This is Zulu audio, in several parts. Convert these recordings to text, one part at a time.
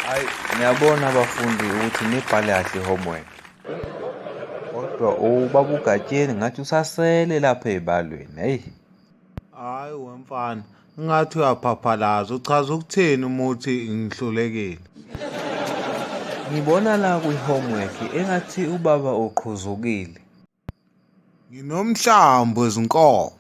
Hayi ngiyabona abafundi ukuthi nibhale kahle homework. Kodwa ubaba uGatsheni ngathi usasele lapha ezibalweni. Hey. Hayi wemfana, ngathi uyaphaphalaza uchaza ukuthini umuthi ngihlulekile. Ngibona la kwi homework engathi ubaba uqhuzukile. Nginomhlambi wezinkomo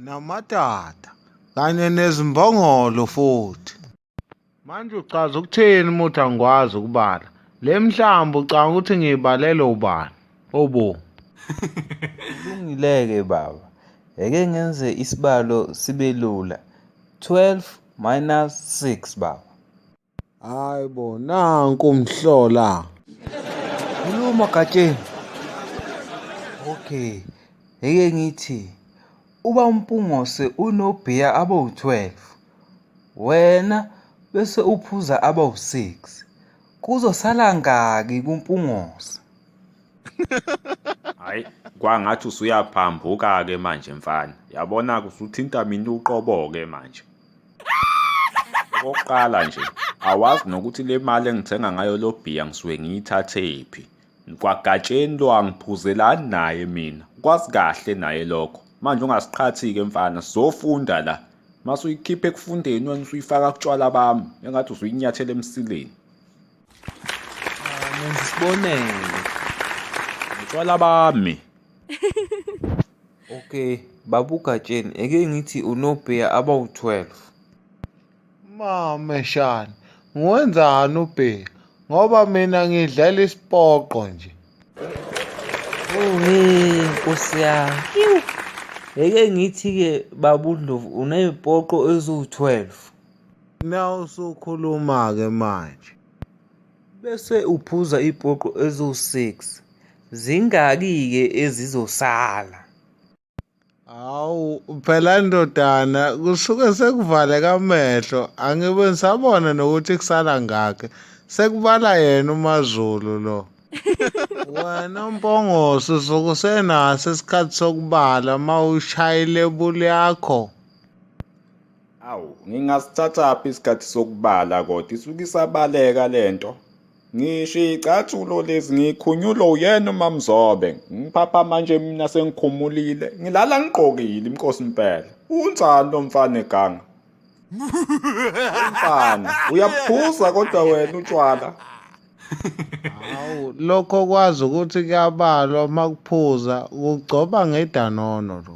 namadada kanye nezimbongolo futhi. Manje uchaza ukuthini uma uthi angikwazi ukubala? Le mihlambi ucanga ukuthi ngiyibalele ubani? Obo. Kulungile-ke baba. Eke ngenze isibalo sibe lula. 12 minus 6 baba. Hayi bo nanku umhlola. Khuluma Gatsheni. Okay. Ngeke ngithi uba uMpungose unobhiya abawu-12 wena bese uphuza abawu-6 kuzosala ngaki kuMpungose? Hayi kwangathi usuyaphambuka-ke manje mfana. Yabona-ke usuthinta mina uqobo-ke manje. Okokuqala nje awazi nokuthi le mali engithenga ngayo lo bhiya ngisuke ngiyithathephi. Kwagatsheni lo angiphuzelani naye mina, kwazi kahle naye lokho. Manje ungasiqhathi-ke mfana, sizofunda la. Mase uyikhipha ekufundeni wena usuyifaka kutshwala bami, engathi usuyinyathela emsileni. Ngenza isibonelo. Utshwala bami. Okay, babu Gatsheni, eke ngithi unobheya abawu-12. Mame shani, ngiwenzani ubheya? Ngoba mina ngidlala isipoqo nje. Uhe, nkosi yami. Iwu. Eke ngithi-ke babu Ndlovu unezipoqo eziwu-12. Now usukhuluma-ke manje. Bese uphuza ipoqo eziwu-six. Zingaki-ke ezizosala? Hawu, phela ndodana kusuke sekuvaleka amehlo, angibe ngisabona nokuthi kusala ngakhe. Sekubala yena uMaZulu lo. Wena uMpongose usuke usenaso isikhathi sokubala uma ushayile ebuli yakho. Awu, ngingasithathaphi isikhathi sokubala kodwa isuke isabaleka le nto. Ngisho iy'cathulo lezi ngikhunyulwe uyena uMaMzobe. Ngiphapha manje mina sengikhumulile. Ngilala ngigqokile inkosi impela. Unjani lo mfana eganga? Mfana, uyaphuza kodwa wena utshwala. Hawu, lokho kwazi ukuthi kuyabalwa uma kuphuza, kugcoba ngedanono lo.